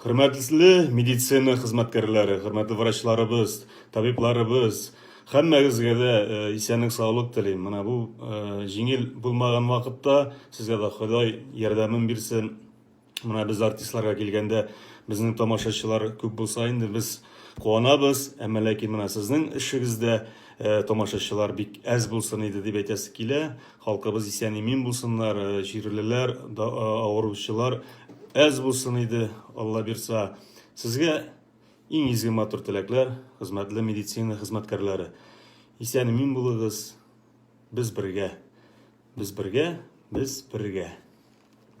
Хөрмәтле медицина хезмәткәрләре, хөрмәтле врачларыбыз, табибларыбыз, һәммәгезгә дә э, исәнлек-саулык телим. Менә бу э, җиңел булмаган вакытта сезгә дә Ходай ярдәмен бирсен. Менә без артистларга килгәндә, безнең тамашачылар күп булса инде без куанабыз, әмма ләкин менә сезнең эшегездә э, тамашачылар бик әз булсын иде дип әйтәсе килә. Халкыбыз исән-имин булсыннар, җирлеләр, авыручылар әз булсын иде, Аллабирса. Сезгә иң изге матур теләкләр, хезмәтле медицина хезмәткәрләре. Исән-имин булыгыз, без бергә. Без бергә, без бергә.